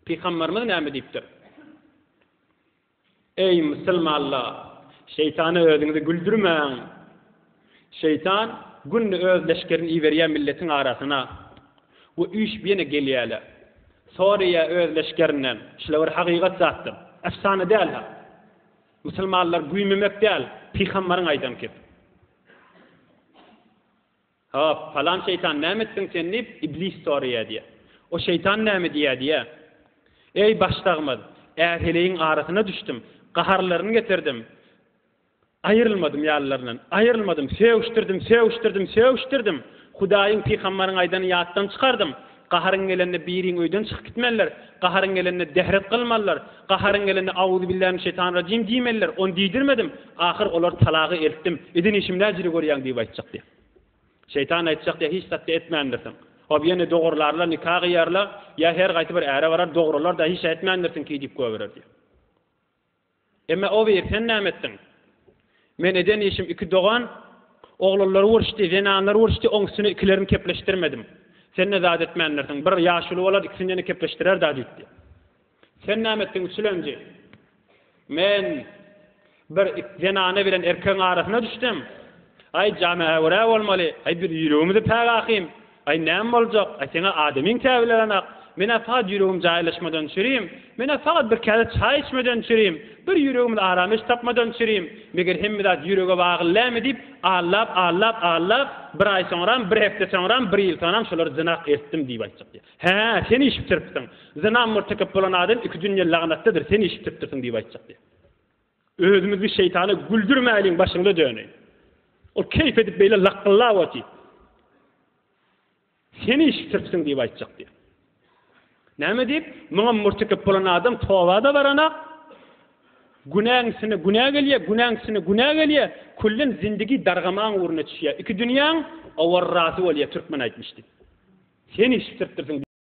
Pygamberimiz näme diýipdir? Eý musulmanlar! Şeýtana özüňizi güldürmäň! Şeýtan günde öz leşgerini iberýär milletiň arasyna we üýşüp ýene gelýärler. Soraýar öz leşgerinden, şular bir hakykat zatdyr, efsana däl ha! Musulmanlar güýmemek däl, pygamberiň aýdan kep. Hop, palan şeýtan näme etdiň sen diýip, Iblis soraýar diýýär. O şeýtan näme diýýär diýýär. Eý, başdagymyz, är-heleýiň arasyna düşdüm, gaharlaryny getirdim, aýrylmadym ýalylaryndan, aýrylmadym, sögüşdirdim, sögüşdirdim, sögüşdirdim, Hudaýyň, pygambaryň aýdanyny ýatdan çykardym, Gaharyň gelende biriň öýden çykyp gitmeliler, gaharyň gelende dehret kylmalylar, gaharyň gelende Auzubillähimşetanrajim diýmeliler, ony diýdirmedim, ahyr olar talagy eltdim, eden işim näjili görýäň diýip aýtjak diýýär. Şeýtan aýtjak diýýär, hiç zatda etmändirsiň. Hop ýene dogrularlar, nika gyýarlar, ýa her gaýsy bir äre barar, dogrular-da hiç ätmändirsiň ki diýip goýberer diýýär. Emme Owyr, sen näme etdiň? Men eden işim iki dogan oglanlary uruşdy, zenanlary uruşdy, oň üstüne ikilerini kepleşdirmedim. Sen-de zat etmändirsiň. Bir ýaşuly bolar, ikisindeni kepleşdirer-dä diýipdi. Sen näme etdiň, üçülenji? Men bir zenana bilen erkegiň arasyna düşdüm. Aý, jana-äwirä bolmaly. Aý, biz ýüregimizi päk ahym. Aý, näme boljak? Aý, seň-ä adamyň käbilerenak. Men-ä fakat ýüregim jaýlaşmadan çürim. Men-ä fakat bir käse çaý içmeden çürim. Bir ýüregimiz aram iş tapmadan çürim. Meger hemme zat ýürege bagly lämi diýip, allap, allap, allap, bir aý soňram, bir hepde soňram, bir ýyl soňram şolary zynak etdim diýip aýtjak diýýär. Hä, sen iş bitiripsiň. Zyna mürtekep bolan adam iki dünýe lagnatdadyr, sen iş bitiripdirsiň diýip aýtjak diýýär. Özümizi şeýtana güldürmäliň başyňda döneý. Ol keýp edip beýle lakgyllap otyr. Sen işitiripsiň diýip aýtjak diýip. Näme diýip? Muňa murtekep bolan adam toba-da baranak. Günäň üstüne günä gelýär, günäň üstüne günä gelýär. Küllen zindigi dargamaň ugruna düşýär. Iki dünýäň awarrasy bolýar türkmen aýtmyş diýip. Sen işitiripdirsiň.